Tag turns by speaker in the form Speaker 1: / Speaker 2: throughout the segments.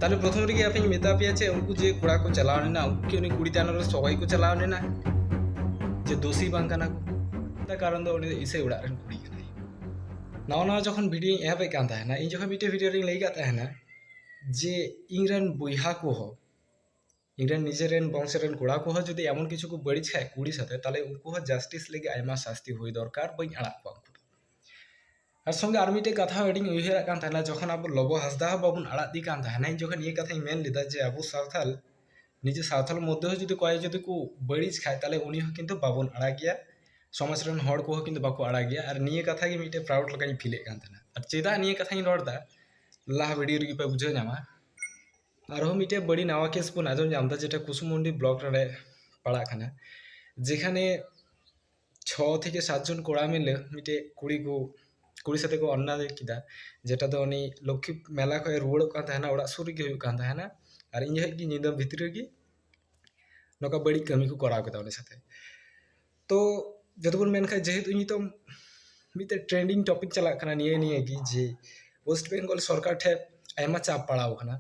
Speaker 1: ᱛᱟᱦᱞᱮ ᱯᱨᱚᱛᱷᱚᱢ ᱨᱮᱜᱮ ᱟᱯᱮᱧ ᱢᱮᱛᱟ ᱯᱮᱭᱟ ᱪᱮ ᱩᱱᱠᱩ ᱡᱮ ᱠᱚᱲᱟ ᱠᱚ ᱪᱟᱞᱟᱣ ᱞᱮᱱᱟ ᱩᱱᱠᱩ ᱠᱤ ᱩᱱᱤ ᱠᱩᱲᱤ ᱛᱟᱭᱱᱚᱢ ᱨᱮ ᱥᱚᱜᱚᱭ ᱠᱚ ᱪᱟᱞᱟᱣ ᱞᱮᱱᱟ ᱡᱮ ᱫᱳᱥᱤ ᱵᱟᱝ ᱠᱟᱱᱟ ᱠᱚ ᱚᱱᱟ ᱠᱟᱨᱚᱱ ᱫᱚ ᱩᱱᱤ ᱫᱚ ᱤᱥᱟᱹᱭ ᱚᱲᱟᱜ ᱨᱮᱱ ᱠᱩᱲᱤ ᱠᱟᱱᱟᱭ ᱱᱟᱣᱟ ᱱᱟᱣᱟ ᱡᱚᱠᱷᱚᱱ ᱵᱷᱤᱰᱤᱭᱳᱧ ᱮᱦᱚᱵᱮᱫ ᱠᱟᱱ ᱛᱟᱦᱮᱱᱟ ᱤᱧ ᱡᱚᱠᱷᱚᱱ ᱢᱤᱫᱴᱮᱱ ᱵᱷᱤᱰᱤᱭᱳ ᱨᱤᱧ ᱞᱟᱹᱭ ᱠᱟᱫ ᱛᱟᱦᱮᱱᱟ ᱡᱮ ᱤᱧ ᱨᱮᱱ ᱵᱚᱭᱦᱟ ᱠᱚᱦᱚᱸ ᱤᱧ ᱨᱮᱱ ᱱᱤᱡᱮ ᱨᱮᱱ ᱵᱚᱝᱥᱚ ᱨᱮᱱ ᱠᱚᱲᱟ ᱠᱚᱦᱚᱸ ᱡᱩᱫᱤ ᱮᱢᱚᱱ ᱠᱤᱪᱷᱩ ᱠᱚ ᱵᱟᱹᱲᱤᱡ ᱠᱷᱟᱡ ᱠᱩᱲᱤ ᱥᱟᱛᱮ ᱛᱟᱞᱚᱦᱮ ᱩᱱᱠᱩ ᱦᱚᱸ ᱡᱟᱥᱴᱤᱥ ᱞᱟᱹᱜᱤᱫ ᱟᱭᱢᱟ ᱥᱟᱥᱛᱤ ᱦᱩᱭ ᱫᱚᱨᱠᱟᱨ ᱵᱟᱹᱧ ᱟᱲᱟᱜ ᱠᱚᱣᱟ ᱩᱱᱠᱩ ᱫᱚ ᱟᱨ ᱥᱚᱝᱜᱮ ᱟᱨ ᱢᱤᱫᱴᱮᱡ ᱠᱟᱛᱷᱟ ᱦᱚᱸ ᱟᱹᱰᱤᱧ ᱩᱭᱦᱟᱹᱨᱟᱜ ᱠᱟᱱ ᱛᱟᱦᱮᱱᱟ ᱡᱚᱠᱷᱚᱱ ᱟᱵᱚ ᱞᱚᱵᱚ ᱦᱟᱸᱥᱫᱟ ᱦᱚᱸ ᱵᱟᱵᱚᱱ ᱟᱲᱟᱜ ᱫᱮ ᱠᱟᱱ ᱛᱟᱦᱮᱱᱟ ᱤᱧ ᱡᱚᱠᱷᱚᱱ ᱱᱤᱭᱟᱹ ᱠᱟᱛᱷᱟᱧ ᱢᱮᱱ ᱞᱮᱫᱟ ᱡᱮ ᱟᱵᱚ ᱥᱟᱶᱛᱟᱞ ᱱᱤᱡᱮ ᱥᱟᱶᱛᱟᱞ ᱢᱚᱫᱽᱫᱷᱮ ᱦᱚᱸ ᱡᱩᱫᱤ ᱚᱠᱚᱭ ᱡᱩᱫᱤ ᱠᱚ ᱵᱟᱹᱲᱤᱡ ᱠᱷᱟᱡ ᱛᱟᱞᱚᱦᱮ ᱩᱱᱤ ᱦᱚᱸ ᱠᱤᱱᱛᱩ ᱵᱟᱵᱚᱱ ᱟᱲᱟᱜᱮᱭᱟ ᱥᱚᱢᱟᱡᱽ ᱨᱮᱱ ᱦᱚᱲ ᱠᱚᱦᱚᱸ ᱠᱤᱱᱛᱩ ᱵᱟᱠᱚ ᱟᱲᱟᱜᱮᱭᱟ ᱟᱨ ᱱᱤᱭᱟᱹ ᱠᱟᱛᱷᱟ ᱜᱮ ᱢᱤᱫᱴᱮᱡ ᱯᱨᱟᱣᱩᱰ ᱞᱮᱠᱟᱧ ᱯᱷᱤᱞᱮᱫ ᱠᱟᱱ ᱛᱟᱦᱮᱱᱟ ᱟᱨ ᱪᱮᱫᱟᱜ ᱱᱤᱭᱟᱹ ᱠᱟᱛᱷᱟᱧ ᱨᱚᱲᱫᱟ ᱞᱟᱦᱟ ᱵᱷᱤᱰᱤᱭᱳ ᱨᱮᱜᱮ ᱯᱮ ᱵᱩᱡᱷᱟᱹᱣ ᱧᱟᱢᱟ ᱟᱨᱦᱚᱸ ᱢᱤᱫᱴᱮᱡ ᱵᱟᱹᱲᱤᱡ ᱱᱟᱣᱟ ᱠᱮᱥ ᱵᱚᱱ ᱟᱸᱡᱚᱢ ᱧᱟᱢ ᱮᱫᱟ ᱡᱮᱴᱟ ᱠᱩᱥᱩᱢᱩᱱᱰᱤ ᱵᱞᱚᱠ ᱨᱮ ᱯᱟᱲᱟᱜ ᱠᱟᱱᱟ ᱡᱮᱠᱷᱟᱱᱮ ᱪᱷᱚ ᱛᱷᱮᱠᱮ ᱥᱟᱛ ᱡᱚᱱ ᱠᱚᱲᱟ ᱢᱤᱞᱮ ᱢᱤᱫᱴᱮᱡ ᱠᱩᱲᱤ ᱠᱚ ᱠᱩᱲᱤ ᱥᱟᱛᱮ ᱠᱚ ᱚᱱᱱᱟᱭ ᱠᱮᱫᱟ ᱡᱮᱴᱟ ᱫᱚ ᱩᱱᱤ ᱞᱚᱠᱠᱷᱤ ᱢᱮᱞᱟ ᱠᱷᱚᱡ ᱨᱩᱣᱟᱹᱲᱚᱜ ᱠᱟᱱ ᱛᱟᱦᱮᱱᱟ ᱚᱲᱟᱜ ᱥᱩᱨ ᱨᱮᱜᱮ ᱦᱩᱭᱩᱜ ᱠᱟᱱ ᱛᱟᱦᱮᱱᱟ ᱟᱨ ᱤᱧ ᱡᱚᱠᱷᱚᱡ ᱜᱮ ᱧᱤᱫᱟᱹ ᱵᱷᱤᱛᱨᱤ ᱨᱮᱜᱮ ᱱᱚᱝᱠᱟ ᱵᱟᱹᱲᱤᱡ ᱠᱟᱹᱢᱤ ᱠᱚ ᱠᱚᱨᱟᱣ ᱠᱮᱫᱟ ᱩᱱᱤ ᱥᱟᱛᱮ ᱛᱚ ᱡᱚᱛᱚ ᱵᱚᱱ ᱢᱮᱱ ᱠᱷᱟᱱ ᱡᱮᱦᱮᱛᱩ ᱱᱤᱛᱚᱝ ᱢᱤᱫᱴᱮᱱ ᱴᱨᱮᱱᱰᱤᱝ ᱴᱚᱯᱤᱠ ᱪᱟᱞᱟᱜ ᱠᱟᱱᱟ ᱱᱤᱭᱟᱹ ᱱᱤᱭᱟᱹ ᱜᱮ ᱡᱮ ᱳᱭᱮᱥᱴ ᱵᱮᱝᱜᱚᱞ ᱥᱚᱨᱠᱟᱨ ᱴᱷᱮᱱ ᱟᱭᱢᱟ ᱪᱟᱯ ᱯᱟᱲᱟᱣ ᱠᱟᱱᱟ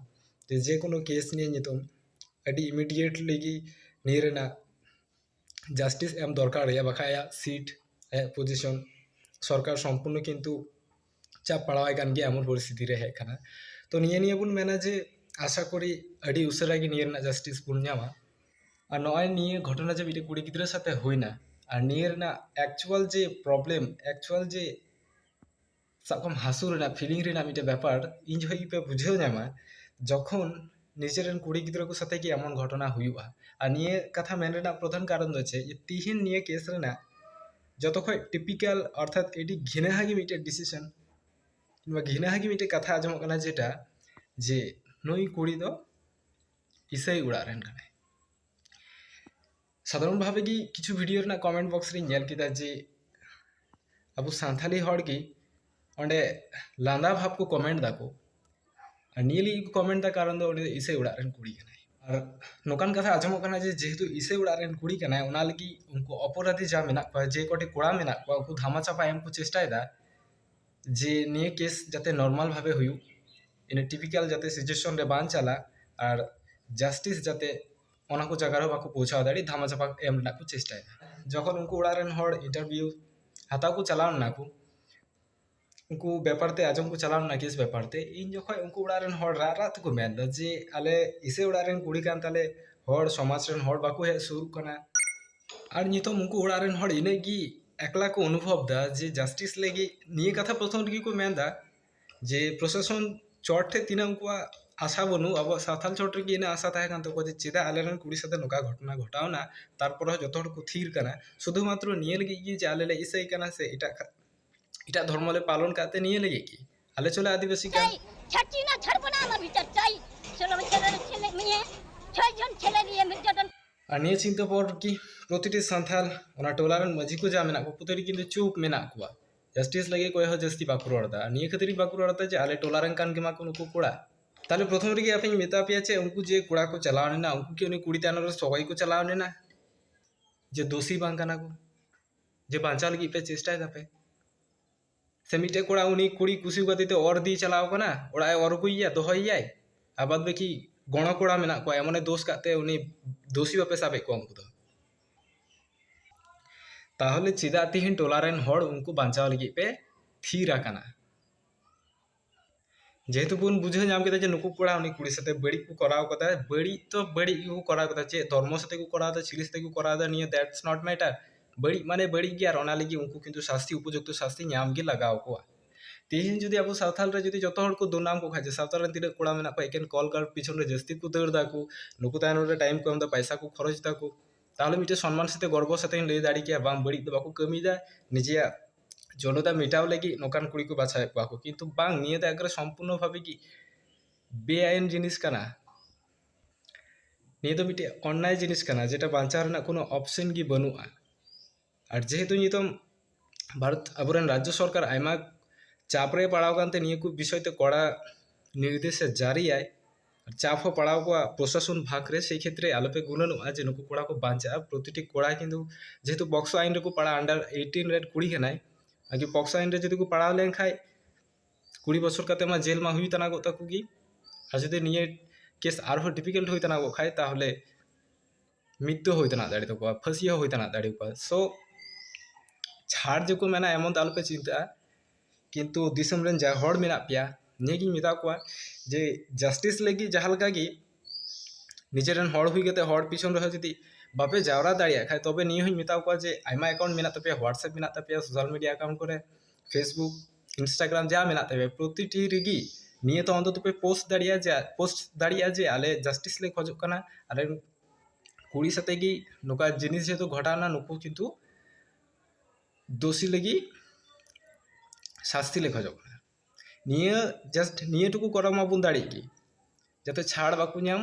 Speaker 1: ᱡᱮ ᱡᱮᱠᱳᱱᱳ ᱠᱮᱥ ᱱᱤᱭᱮ ᱱᱤᱛᱚᱝ ᱟᱹᱰᱤ ᱤᱢᱤᱰᱤᱭᱮᱴᱞᱤ ᱜᱮ ᱱᱤᱭᱟᱹ ᱨᱮᱱᱟᱜ ᱡᱟᱥᱴᱤᱥ ᱮᱢ ᱫᱚᱨᱠᱟᱨ ᱟᱭᱟ ᱵᱟᱠᱷᱟᱱ ᱟᱭᱟᱜ ᱥᱤᱴ ᱟᱭᱟᱜ ᱯᱚᱡᱤᱥᱚᱱ ᱥᱚᱨᱠᱟᱨ ᱥᱚᱢᱯᱩᱨᱱᱚ ᱠᱤᱱᱛᱩ ᱪᱟᱯ ᱯᱟᱲᱟᱣᱟᱭ ᱠᱟᱱ ᱜᱮᱭᱟ ᱮᱢᱚᱱ ᱯᱚᱨᱤᱥᱛᱷᱤᱛᱤ ᱨᱮ ᱦᱮᱡ ᱠᱟᱱᱟ ᱛᱚ ᱱᱤᱭᱟᱹ ᱱᱤᱭᱟᱹ ᱵᱚᱱ ᱢᱮᱱᱟ ᱡᱮ ᱟᱥᱟ ᱠᱚᱨᱤ ᱟᱹᱰᱤ ᱩᱥᱟᱹᱨᱟ ᱜᱮ ᱱᱤᱭᱟᱹ ᱨᱮᱱᱟᱜ ᱡᱟᱥᱴᱤᱥ ᱵᱚᱱ ᱧᱟᱢᱟ ᱟᱨ ᱱᱚᱜᱼᱚᱭ ᱱᱤᱭᱟᱹ ᱜᱷᱚᱴᱚᱱᱟ ᱡᱮ ᱢᱤᱫᱴᱮᱱ ᱠᱩᱲᱤ ᱜᱤᱫᱽᱨᱟᱹ ᱥᱟᱛᱮ ᱦᱩᱭᱱᱟ ᱟᱨ ᱱᱤᱭᱟᱹ ᱨᱮᱱᱟᱜ ᱮᱠᱪᱩᱭᱮᱞ ᱡᱮ ᱯᱨᱚᱵᱞᱮᱢ ᱮᱠᱪᱩᱭᱮᱞ ᱡᱮ ᱥᱟᱵ ᱠᱟᱜ ᱢᱮ ᱦᱟᱹᱥᱩ ᱨᱮᱱᱟᱜ ᱯᱷᱤᱞᱤᱝ ᱨᱮᱱᱟᱜ ᱢᱤᱫᱴᱮᱱ ᱵᱮᱯᱟᱨ ᱤᱧ ᱡᱚᱠᱷᱚᱱ ᱜᱮᱯᱮ ᱵᱩᱡᱷᱟᱹᱣ ᱧᱟᱢᱟ ᱡᱚᱠᱷᱚᱱ ᱱᱤᱡᱮᱨᱮᱱ ᱠᱩᱲᱤ ᱜᱤᱫᱽᱨᱟᱹ ᱠᱚ ᱥᱟᱛᱮ ᱜᱮ ᱮᱢᱚᱱ ᱜᱷᱚᱴᱚᱱᱟ ᱦᱩᱭᱩᱜᱼᱟ ᱟᱨ ᱱᱤᱭᱟᱹ ᱠᱟᱛᱷᱟ ᱢᱮᱱ ᱨᱮᱱᱟᱜ ᱯᱨᱚᱫᱷᱟᱱ ᱠᱟᱨᱚᱱ ᱫᱚ ᱪᱮᱫ ᱛᱤᱦᱤᱧ ᱱᱤᱭᱟᱹ ᱠᱮᱥ ᱨᱮᱱᱟᱜ ᱡᱚᱛᱚ ᱠᱷᱚᱡ ᱴᱤᱯᱤᱠᱮᱞ ᱚᱨᱛᱷᱟᱛ ᱟᱹᱰᱤ ᱜᱷᱤᱱᱟᱦᱟ ᱜᱮ ᱢᱤᱫᱴᱮᱡ ᱰᱤᱥᱤᱥᱮᱱ ᱱᱚᱣᱟ ᱜᱷᱤᱱᱟᱦᱟ ᱜᱮ ᱢᱤᱫᱴᱮᱡ ᱠᱟᱛᱷᱟ ᱟᱸᱡᱚᱢᱚᱜ ᱠᱟᱱᱟ ᱡᱮᱴᱟ ᱡᱮ ᱱᱩᱭ ᱠᱩᱲᱤ ᱫᱚ ᱤᱥᱟᱹᱭ ᱚᱲᱟᱜ ᱨᱮᱱ ᱠᱟᱱᱟᱭ ᱥᱟᱫᱷᱟᱨᱚᱱ ᱵᱷᱟᱵᱮ ᱜᱮ ᱠᱤᱪᱷᱩ ᱵᱷᱤᱰᱤᱭᱳ ᱨᱮᱱᱟᱜ ᱠᱚᱢᱮᱱᱴ ᱵᱚᱠᱥ ᱨᱤᱧ ᱧᱮᱞ ᱠᱮᱫᱟ ᱡᱮ ᱟᱵᱚ ᱥᱟᱱᱛᱷᱟᱞᱤ ᱦᱚᱲ ᱜᱮ ᱚᱸᱰᱮ ᱞᱟᱸᱫᱟ ᱵᱷᱟᱵᱽ ᱠᱚ ᱠᱚᱢᱮᱱᱴ ᱫᱟᱠᱚ ᱟᱨ ᱱᱤᱭᱟᱹ ᱞᱟᱹᱜᱤᱫ ᱠᱚ ᱠᱚᱢᱮᱱᱴ ᱫᱟ ᱠᱟᱨᱚᱱ ᱫᱚ ᱩᱱᱤ ᱫᱚ ᱤᱥᱟᱹᱭ ᱚᱲᱟᱜ ᱨᱮᱱ ᱠᱩᱲᱤ ᱠᱟᱱᱟᱭ ᱟᱨ ᱱᱚᱝᱠᱟᱱ ᱠᱟᱛᱷᱟ ᱟᱸᱡᱚᱢᱚᱜ ᱠᱟᱱᱟ ᱡᱮ ᱡᱮᱦᱮᱛᱩ ᱤᱥᱟᱹᱭ ᱚᱲᱟᱜ ᱨᱮᱱ ᱠᱩᱲᱤ ᱠᱟᱱᱟᱭ ᱚᱱᱟ ᱞᱟᱹᱜᱤᱫ ᱩᱱᱠᱩ ᱚᱯᱚᱨᱟᱫᱷᱤ ᱡᱟᱦᱟᱸ ᱢᱮᱱᱟᱜ ᱠᱚᱣᱟ ᱡᱮ ᱠᱚᱴᱤ ᱠᱚᱲᱟ ᱢᱮᱱᱟᱜ ᱠᱚᱣᱟ ᱩᱱᱠᱩ ᱫᱷᱟᱢᱟ ᱪᱟᱯᱟ ᱮᱢ ᱠᱚ ᱪᱮᱥᱴᱟᱭᱮᱫᱟ ᱡᱮ ᱱᱤᱭᱟᱹ ᱠᱮᱥ ᱡᱟᱛᱮ ᱱᱚᱨᱢᱟᱞ ᱵᱷᱟᱵᱮ ᱦᱩᱭᱩᱜ ᱤᱱᱟᱹ ᱴᱤᱯᱤᱠᱟᱞ ᱡᱟᱛᱮ ᱥᱤᱪᱩᱭᱮᱥᱚᱱ ᱨᱮ ᱵᱟᱝ ᱪᱟᱞᱟᱜ ᱟᱨ ᱡᱟᱥᱴᱤᱥ ᱡᱟᱛᱮ ᱚᱱᱟ ᱠᱚ ᱡᱟᱭᱜᱟ ᱨᱮ ᱵᱟᱠᱚ ᱯᱳᱣᱪᱷᱟᱣ ᱫᱟᱲᱮᱜ ᱫᱷᱟᱢᱟ ᱪᱟᱯᱟ ᱮᱢ ᱨᱮᱱᱟᱜ ᱠᱚ ᱪᱮᱥᱴᱟᱭᱟ ᱡᱚᱠᱷᱚᱱ ᱩᱱᱠᱩ ᱚᱲᱟᱜ ᱨᱮᱱ ᱦᱚᱲ ᱤᱱᱴᱟᱨᱵᱷᱤᱭᱩ ᱦᱟᱛᱟᱣ ᱠᱚ ᱪᱟᱞᱟᱣ ᱞᱮᱱᱟ ᱠᱚ ᱩᱱᱠᱩ ᱵᱮᱯᱟᱨ ᱛᱮ ᱟᱸᱡᱚᱢ ᱠᱚ ᱪᱟᱞᱟᱣ ᱞᱮᱱᱟ ᱠᱮᱥ ᱵᱮᱯᱟᱨ ᱛᱮ ᱤᱧ ᱡᱚᱠᱷᱚᱡ ᱩᱱᱠᱩ ᱚᱲᱟᱜ ᱨᱮᱱ ᱦᱚᱲ ᱨᱟᱜ ᱨᱟᱜ ᱛᱮᱠᱚ ᱢᱮᱱᱫᱟ ᱡᱮ ᱟᱞᱮ ᱤᱥᱟᱹᱭ ᱚᱲᱟᱜ ᱨᱮᱱ ᱠᱩᱲᱤ ᱠᱟᱱ ᱛᱟᱞᱮ ᱦᱚᱲ ᱥᱚᱢᱟᱡᱽ ᱨᱮᱱ ᱦᱚᱲ ᱵᱟᱠᱚ ᱦᱮᱡ ᱥᱩᱨᱩᱜ ᱠᱟᱱᱟ ᱟᱨ ᱱᱤᱛᱚᱜ ᱩᱱᱠᱩ ᱚᱲᱟᱜ ᱨᱮᱱ ᱦᱚᱲ ᱤᱱᱟᱹᱜ ᱜᱮ ᱮᱠᱞᱟ ᱠᱚ ᱚᱱᱩᱵᱷᱚᱵᱽᱫᱟ ᱡᱮ ᱡᱟᱥᱴᱤᱥ ᱞᱟᱹᱜᱤᱫ ᱱᱤᱭᱟᱹ ᱠᱟᱛᱷᱟ ᱯᱨᱚᱛᱷᱚᱢ ᱨᱮᱜᱮ ᱠᱚ ᱢᱮᱱᱫᱟ ᱡᱮ ᱯᱨᱚᱥᱟᱥᱚᱱ ᱪᱚᱴ ᱴᱷᱮᱱ ᱛᱤᱱᱟᱹᱜ ᱩᱱᱠᱩᱣᱟᱜ ᱟᱥᱟ ᱵᱟᱹᱱᱩᱜ ᱟᱵᱚᱣᱟᱜ ᱥᱟᱶᱛᱟᱞ ᱪᱚᱴ ᱨᱮᱜᱮ ᱤᱱᱟᱹ ᱟᱥᱟ ᱛᱟᱦᱮᱸ ᱠᱟᱱ ᱛᱟᱠᱚᱣᱟ ᱡᱮ ᱪᱮᱫᱟᱜ ᱟᱞᱮ ᱨᱮᱱ ᱠᱩᱲᱤ ᱥᱟᱛᱮ ᱱᱚᱝᱠᱟ ᱜᱷᱚᱴᱚᱱᱟ ᱜᱷᱚᱴᱟᱣᱱᱟ ᱛᱟᱨᱯᱚᱨ ᱦᱚᱸ ᱡᱚᱛᱚ ᱦᱚᱲ ᱠᱚ ᱛᱷᱤᱨ ᱠᱟᱱᱟ ᱥᱩᱫᱷᱩ ᱢᱟᱛᱨᱚ ᱱᱤᱭᱟᱹ ᱞᱟᱹᱜᱤᱫ ᱜᱮ ᱡᱮ ᱟᱞᱮ ᱞᱮ ᱤᱥᱟᱹᱭ ᱠᱟᱱᱟ ᱥᱮ ᱮᱴᱟᱜ ᱮᱴᱟᱜ ᱫᱷᱚᱨᱢᱚ ᱞᱮ ᱯᱟᱞᱚᱱ ᱠᱟᱜ ᱛᱮ ᱱᱤᱭᱟᱹ ᱞᱟᱹᱜᱤᱫ ᱜᱮ ᱟᱞᱮ ᱪᱚᱞᱮ ᱟᱹᱫᱤᱵᱟᱹᱥᱤ ᱠᱟᱱ ᱟᱨ ᱱᱤᱭᱟᱹ ᱪᱤᱱᱛᱟᱹ ᱯᱚᱨ ᱜᱮ ᱯᱨᱚᱛᱤᱴᱤ ᱥᱟᱱᱛᱟᱞ ᱚᱱᱟ ᱴᱚᱞᱟ ᱨᱮᱱ ᱢᱟᱹᱡᱷᱤ ᱠᱚ ᱡᱟ ᱢᱮᱱᱟᱜ ᱠᱚ ᱯᱨᱚᱛᱤᱴᱤ ᱠᱤᱱᱛᱩ ᱪᱩᱯ ᱢᱮᱱᱟᱜ ᱠᱚᱣᱟ ᱡᱟᱥᱴᱤᱥ ᱞᱟᱹᱜᱤᱫ ᱚᱠᱚᱭ ᱦᱚᱸ ᱡᱟᱹᱥᱛᱤ ᱵᱟᱠᱚ ᱨᱚᱲ ᱮᱫᱟ ᱱᱤᱭᱟᱹ ᱠᱷᱟᱹᱛᱤᱨ ᱜᱮ ᱵᱟᱠᱚ ᱨᱚᱲ ᱮᱫᱟ ᱡᱮ ᱟᱞᱮ ᱴᱚᱞᱟ ᱨᱮᱱ ᱠᱟᱱ ᱜᱮᱢᱟ ᱠᱚ ᱱᱩᱠᱩ ᱠᱚᱲᱟ ᱛᱟᱦᱚᱞᱮ ᱯᱨᱚᱛᱷᱚᱢ ᱨᱮᱜᱮ ᱟᱯᱮᱧ ᱢᱮᱛᱟ ᱯᱮᱭᱟ ᱡᱮ ᱩᱱᱠᱩ ᱡᱮ ᱠᱚᱲᱟ ᱠᱚ ᱪᱟᱞᱟᱣ ᱞᱮᱱᱟ ᱩᱱᱠᱩ ᱠᱤ ᱩᱱᱤ ᱠᱩᱲᱤ ᱛᱟᱭᱱᱚᱢ ᱨᱮ ᱥᱚᱜᱚᱭ ᱠᱚ ᱪᱟᱞᱟᱣ ᱞᱮᱱᱟ ᱡᱮ ᱫᱳᱥᱤ ᱵᱟᱝ ᱠᱟᱱᱟ ᱠᱚ ᱡᱮ ᱵᱟᱧᱪᱟᱣ ᱞᱟᱹᱜᱤᱫ ᱯᱮ ᱪᱮᱥᱴᱟᱭ ᱫᱟᱯᱮ ᱥᱮ ᱢᱤᱫᱴᱮᱡ ᱠᱚᱲᱟ ᱩᱱᱤ ᱠᱩᱲᱤ ᱠᱩᱥᱤ ᱠᱟᱛᱮ ᱛᱮ ᱚᱨ ᱤᱫᱤᱭ ᱪᱟᱞᱟᱣ ᱠᱟᱱᱟ ᱚᱲᱟᱜ ᱮ ᱚᱨ ᱟᱹᱜᱩᱭᱮᱭᱟ ᱫᱚᱦᱚᱭᱮᱭᱟᱭ ᱟᱵᱟᱫ ᱵᱟᱹᱠᱤ ᱜᱚᱲᱚ ᱠᱚᱲᱟ ᱢᱮᱱᱟᱜ ᱠᱚᱣᱟ ᱮᱢᱚᱱᱮ ᱫᱳᱥ ᱠᱟᱜ ᱛᱮ ᱩᱱᱤ ᱫᱳᱥᱤ ᱵᱟᱯᱮ ᱥᱟᱵᱮᱫ ᱠᱚᱣᱟ ᱩᱱᱠᱩ ᱫᱚ ᱛᱟᱦᱚᱞᱮ ᱪᱮᱫᱟᱜ ᱛᱮᱦᱮᱧ ᱴᱚᱞᱟ ᱨᱮᱱ ᱦᱚᱲ ᱩᱱᱠᱩ ᱵᱟᱧᱪᱟᱣ ᱞᱟᱹᱜᱤᱫ ᱯᱮ ᱛᱷᱤᱨ ᱟᱠᱟᱱᱟ ᱡᱮᱦᱮᱛᱩ ᱵᱚᱱ ᱵᱩᱡᱷᱟᱹᱣ ᱧᱟᱢ ᱠᱮᱫᱟ ᱡᱮ ᱱᱩᱠᱩ ᱠᱚᱲᱟ ᱩᱱᱤ ᱠᱩᱲᱤ ᱥᱟᱛᱮ ᱵᱟᱹᱲᱤᱡ ᱠᱚ ᱠᱚᱨᱟᱣ ᱠᱟᱫᱟ ᱵᱟᱹᱲᱤᱡ ᱛᱚ ᱵᱟᱹᱲᱤᱡ ᱜᱮᱠᱚ ᱠᱚᱨᱟᱣ ᱠᱟᱫᱟ ᱪᱮᱫ ᱫᱷᱚᱨᱢᱚ ᱥᱟᱛᱮ ᱠᱚ ᱠᱚᱨᱟᱣ ᱫᱟ ᱪᱤᱞᱤ ᱥᱟᱛᱮ ᱠᱚ ᱠᱚᱨᱟᱣ ᱫᱟ ᱱᱤᱭᱟᱹ ᱫᱮᱴᱥ ᱱᱚᱴ ᱢᱮᱴᱟᱨ ᱵᱟᱹᱲᱤᱡ ᱢᱟᱱᱮ ᱵᱟᱹᱲᱤᱡ ᱜᱮ ᱟᱨ ᱚᱱᱟ ᱞᱟᱹᱜᱤᱫ ᱩᱱᱠᱩ ᱠᱤᱱᱛᱩ ᱥᱟᱥᱛᱤ ᱩᱯᱚᱡᱩᱠᱛᱚ ᱥᱟᱥᱛᱤ ᱧᱟᱢ ᱜᱮ ᱞᱟᱜᱟᱣ ᱠᱚᱣᱟ ᱛᱮᱦᱮᱧ ᱡᱩᱫᱤ ᱟᱵᱚ ᱥᱟᱶᱛᱟᱞ ᱨᱮ ᱡᱩᱫᱤ ᱡᱚᱛᱚ ᱦᱚᱲ ᱠᱚ ᱫᱩᱱᱟᱢ ᱠᱚ ᱠᱷᱟᱡ ᱡᱮ ᱥᱟᱶᱛᱟ ᱨᱮᱱ ᱛᱤᱱᱟᱹᱜ ᱠᱚᱲᱟ ᱢᱮᱱᱟᱜ ᱠᱚᱣᱟ ᱮᱠᱮᱱ ᱠᱚᱞ ᱜᱟᱨᱰ ᱯᱤᱪᱷᱚᱱ ᱨᱮ ᱡᱟᱹᱥᱛᱤ ᱠᱚ ᱫᱟᱹᱲ ᱫᱟᱠᱚ ᱱᱩᱠᱩ ᱛᱟᱭᱱᱚᱢ ᱨᱮ ᱴᱟᱭᱤᱢ ᱠᱚ ᱮᱢᱫᱟ ᱯᱟᱭᱥᱟ ᱠᱚ ᱠᱷᱚᱨᱚᱪ ᱫᱟᱠᱚ ᱛᱟᱦᱚᱞᱮ ᱢᱤᱫᱴᱮᱡ ᱥᱚᱱᱢᱟᱱ ᱥᱟᱛᱮᱜ ᱜᱚᱨᱵᱚ ᱥᱟᱛᱮᱜ ᱤᱧ ᱞᱟᱹᱭ ᱫᱟᱲᱮ ᱠᱮᱭᱟ ᱵᱟᱝ ᱵᱟᱹᱲᱤᱡ ᱫᱚ ᱵᱟᱠᱚ ᱠᱟᱹᱢᱤᱭᱫᱟ ᱱᱤᱡᱮᱭᱟᱜ ᱡᱚᱱᱚᱛᱟ ᱢᱮᱴᱟᱣ ᱞᱟᱹᱜᱤᱫ ᱱᱚᱝᱠᱟᱱ ᱠᱩᱲᱤ ᱠᱚ ᱵᱟᱪᱷᱟᱣᱮᱫ ᱠᱚᱣᱟ ᱠᱚ ᱠᱤᱱᱛᱩ ᱵᱟᱝ ᱱᱤᱭᱟᱹ ᱫᱚ ᱮᱠᱵᱟᱨᱮ ᱥᱚᱢᱯᱩᱨᱱᱚ ᱵᱷᱟᱵᱮ ᱜᱮ ᱵᱮᱼᱟᱭᱤᱱ ᱡᱤᱱᱤᱥ ᱠᱟᱱᱟ ᱱᱤᱭᱟᱹ ᱫᱚ ᱢᱤᱫᱴᱮᱡ ᱚᱱᱱᱟᱭ ᱡᱤᱱᱤᱥ ᱠᱟᱱᱟ ᱡᱮᱴᱟ ᱵᱟᱧᱪᱟᱣ ᱨᱮᱱᱟᱜ ᱠᱳᱱᱳ ᱚᱯᱷᱥᱮᱱ ᱜᱮ ᱵᱟᱹᱱᱩᱜᱼᱟ ᱟᱨ ᱡᱮᱦᱮᱛᱩ ᱱᱤᱛᱚᱝ ᱵᱷᱟᱨᱚᱛ ᱟᱵᱚ ᱨᱮᱱ ᱨᱟᱡᱽᱡᱚ ᱥᱚᱨᱠᱟᱨ ᱟᱭᱢᱟ ᱪᱟᱯ ᱨᱮ ᱯᱟᱲᱟᱣ ᱟᱠᱟᱱ ᱛᱮ ᱱᱤᱭᱟᱹ ᱠᱚ ᱵᱤᱥᱚᱭ ᱛᱮ ᱠᱚᱲᱟ ᱱᱤᱨᱫᱮᱥᱮ ᱡᱟᱹᱨᱤᱭᱟᱭ ᱪᱟᱯ ᱦᱚᱸ ᱯᱟᱲᱟᱣ ᱠᱚᱣᱟ ᱯᱨᱚᱥᱟᱥᱚᱱ ᱵᱷᱟᱜᱽ ᱨᱮ ᱥᱮᱭ ᱠᱷᱮᱛᱨᱮ ᱟᱞᱚ ᱯᱮ ᱜᱩᱱᱟᱹᱱᱚᱜᱼᱟ ᱡᱮ ᱱᱩᱠᱩ ᱠᱚᱲᱟ ᱠᱚ ᱵᱟᱧᱪᱟᱜᱼᱟ ᱯᱨᱚᱛᱤᱴᱤ ᱠᱚᱲᱟ ᱠᱤᱱᱛᱩ ᱡᱮᱦᱮᱛᱩ ᱯᱚᱠᱥᱚ ᱟᱭᱤᱱ ᱨᱮᱠᱚ ᱯᱟᱲᱟᱜᱼᱟ ᱟᱱᱰᱟᱨ ᱮᱭᱤᱴᱤᱱ ᱨᱮᱱ ᱠᱩᱲᱤ ᱠᱟᱱᱟᱭ ᱟᱨ ᱡᱩᱫᱤ ᱯᱚᱠᱥᱚ ᱟᱭᱤᱱ ᱨᱮ ᱡᱩᱫᱤ ᱠᱚ ᱯᱟᱲᱟᱣ ᱞᱮᱱᱠᱷᱟᱡ ᱠᱩᱲᱤ ᱵᱚᱪᱷᱚᱨ ᱠᱟᱛᱮ ᱢᱟ ᱡᱮᱞ ᱢᱟ ᱦᱩᱭ ᱛᱟᱱᱟᱜᱚᱜ ᱛᱟᱠᱚ ᱜᱮ ᱟᱨ ᱡᱩᱫᱤ ᱱᱤᱭᱟᱹ ᱠᱮᱥ ᱟᱨᱦᱚᱸ ᱰᱤᱯᱷᱤᱠᱟᱞᱴ ᱦᱩᱭ ᱛᱟᱱᱟᱜᱚᱜ ᱠᱷᱟᱡ ᱛᱟᱦᱚᱞᱮ ᱢᱤᱫ ᱫᱚ ᱦᱩᱭ ᱛᱮᱱᱟᱜ ᱫᱟᱲᱮ ᱛᱟᱠᱚᱣᱟ ᱯᱷᱟᱹᱥᱤ ᱦᱚᱸ ᱦᱩᱭ ᱛᱮᱱᱟᱜ ᱫᱟᱲᱮ ᱟᱠᱚᱣᱟ ᱥᱳ ᱪᱷᱟᱲ ᱡᱮᱠᱚ ᱢᱮᱱᱟ ᱮᱢᱚᱱ ᱫᱚ ᱟᱞᱚᱯᱮ ᱪᱤᱱᱛᱟᱹᱜᱼᱟ ᱠᱤᱱᱛᱩ ᱫᱤᱥᱚᱢ ᱨᱮᱱ ᱡᱟ ᱦᱚᱲ ᱢᱮᱱᱟᱜ ᱯᱮᱭᱟ ᱱᱤᱭᱟᱹᱜᱤᱧ ᱢᱮᱛᱟ ᱠᱚᱣᱟ ᱡᱮ ᱡᱟᱥᱴᱤᱥ ᱞᱟᱹᱜᱤᱫ ᱡᱟᱦᱟᱸ ᱞᱮᱠᱟ ᱜᱮ ᱱᱤᱡᱮ ᱨᱮᱱ ᱦᱚᱲ ᱦᱩᱭ ᱠᱟᱛᱮ ᱦᱚᱲ ᱯᱤᱪᱷᱚᱱ ᱨᱮᱦᱚᱸ ᱡᱩᱫᱤ ᱵᱟᱯᱮ ᱡᱟᱣᱨᱟ ᱫᱟᱲᱮᱭᱟᱜ ᱠᱷᱟᱡ ᱛᱚᱵᱮ ᱱᱤᱭᱟᱹ ᱦᱚᱸᱧ ᱢᱮᱛᱟ ᱠᱚᱣᱟ ᱡᱮ ᱟᱭᱢᱟ ᱮᱠᱟᱣᱩᱱᱴ ᱢᱮᱱᱟᱜ ᱛᱟᱯᱮᱭᱟ ᱦᱳᱣᱟᱴᱥᱮᱯ ᱢᱮᱱᱟᱜ ᱛᱟᱯᱮᱭᱟ ᱥᱳᱥᱟᱞ ᱢᱤᱰᱤᱭᱟ ᱮᱠᱟᱣᱩᱱᱴ ᱠᱚᱨᱮ ᱯᱷᱮᱥᱵᱩᱠ ᱤᱱᱥᱴᱟᱜᱨᱟᱢ ᱡᱟ ᱢᱮᱱᱟᱜ ᱛᱟᱯᱮ ᱯᱨᱚᱛᱤᱴᱤ ᱨᱮᱜᱮ ᱱᱤᱭᱟᱹ ᱫᱚ ᱚᱱᱛᱚᱛᱚ ᱯᱮ ᱯᱳᱥᱴ ᱫᱟᱲᱮᱭᱟᱜᱼᱟ ᱡᱮ ᱯᱳᱥᱴ ᱫᱟᱲᱮᱭᱟᱜᱼᱟ ᱡᱮ ᱟᱞᱮ ᱡᱟᱥᱴᱤᱥ ᱞᱮ ᱠᱷᱚᱡᱚᱜ ᱠᱟᱱᱟ ᱟᱞᱮ ᱨᱮᱱ ᱠᱩᱲᱤ ᱥᱟᱛᱮᱜ ᱜᱮ ᱱᱚᱝᱠᱟ ᱡᱤᱱᱤᱥ ᱡᱮᱦᱮᱛᱩ ᱜᱷᱚᱴᱟᱣᱱᱟ ᱱᱩᱠᱩ ᱠᱤᱱᱛᱩ ᱫᱳᱥᱤ ᱞᱟᱹᱜᱤᱫ ᱥᱟᱥᱛᱤ ᱞᱮ ᱠᱷᱚᱡᱚᱜ ᱠᱟᱱᱟ ᱱᱤᱭᱟᱹ ᱡᱟᱥᱴ ᱱᱤᱭᱟᱹ ᱴᱩᱠᱩ ᱠᱚᱨᱟᱣ ᱢᱟᱵᱚᱱ ᱫᱟᱲᱮᱜ ᱜᱮ ᱡᱟᱛᱮ ᱪᱷᱟᱲ ᱵᱟᱠᱚ ᱧᱟᱢ